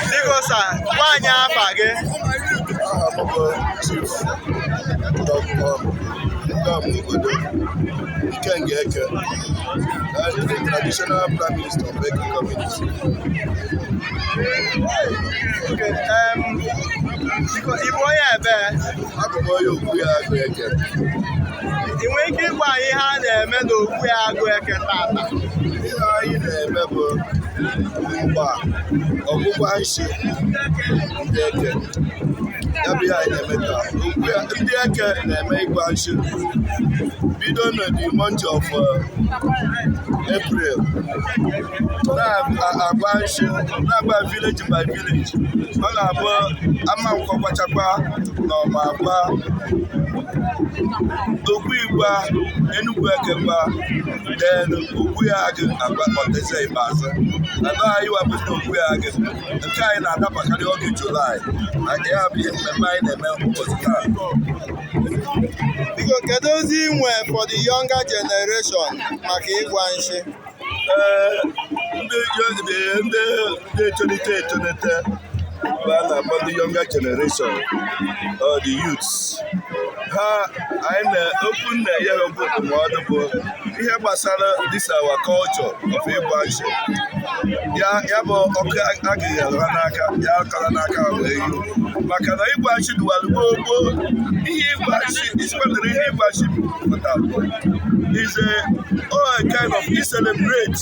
Biko sa, gwa anyị afa gị. Chief Dr. Ndam Obodo Ikenga Eke, the traditional prime minister of Eke community. Okay, um, biko, ị bụ onye ebe? Abụ m onye Ogui Agụ Eke. Ị nwere ike ịgwa anyị ihe a na-eme n'Ogui Agụ Eke tata? Ihe anyị na-eme bụ mgba ọgbụgba nshi ndị eke ya bụ ihe anyị na-eme taa ndị eke na-eme ịgba nshi bido na the month of uh, April na-agba nshi na-agba village by village ọ na-abụ Amankwọ gbachakwa na Ọma agba Ogui gba Enugu Eke gba then Ogui Agụ agba ọteze ikpeazụ anọ anyị wepụta Ogui Agụ nke anyị na-adabakarị oge julaị na nke ya bụ ihe mmemme anyị na-eme ụbọchị taa biko kedu ozi ị nwe for the younger generation maka ịgba nshi ee ndị ndị na-etolite etolite bụ a na-akpọ ndị younger generation or the youths ha anyị na-ekwu na-enye ha okwu ndụmọdụ bụ ihe gbasara this our culture of ịgba nshi ya ya bụ ọkụ agaghị anyụ ha n'aka ya akọla n'aka ha wee yi maka na ịgba nshi dụwara gboo gboo ihe ịgba nshi kpatara ihe ịgba nshi pụtara is a kind of e celebrate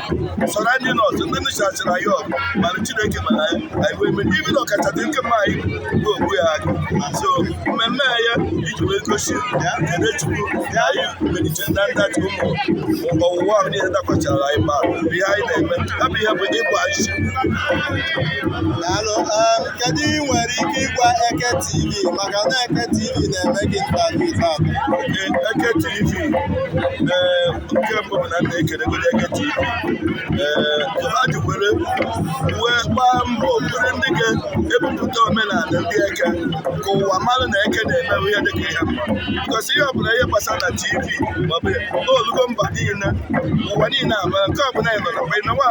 surrounding us ndị nụchachara anyị ọgụ mana chineke mana anyị anyị wee merie be na ọkachasị nke mma anyị bụ Ogui Agụ so mmemme a ya iji wee gosi kene chukwu na anyị melite na ndachi ụmụ ọwụwa ahụ niile dakwachara anyị ma bụ ihe anyị na-eme ya bụ ihe bụ ịgba nshi Daalụ. Um, Kedu ị nwere ike ịgwa Eke TV maka na Eke TV na-eme gị interview taa? Eke TV ee nke mbụ bụ na m na-ekelegodi Eke TV ee ha ji were wee gbaa mbọ bụrụ ndị ga-ebupụta omenala ndị eke ka ụwa mara na eke na-emerụ ihe dịka ihe mma because ihe ọbụla ihe gbasara na tv maọbụ o lugo mba niile ụwa niile ama nke ọbụla ị nọ na mgbe ị nọwa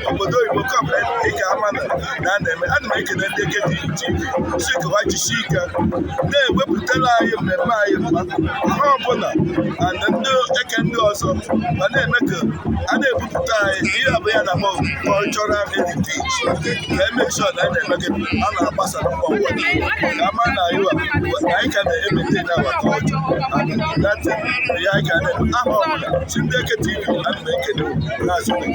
obodo oyibo nke ọbụla ị ga-ama na na a na-eme ana m ekele ndị Eke TV sị ka ha jisie ike na-ewepụtara anyị mmemme anyị mma ha ọbụla na ndị eke ndị ọzọ ma na-eme ka a na-ebupụta anyị ihe abụ ya na cultural heritage ka emechọ na anyị na-eme gị a na-agbasa na mba ụwa niile ka a ma na anyị wa- wa- na anyị ka na-emete na our culture that ya anyị ga na-eme aha ọbụla so ndị eke tv ana m ekele na-asị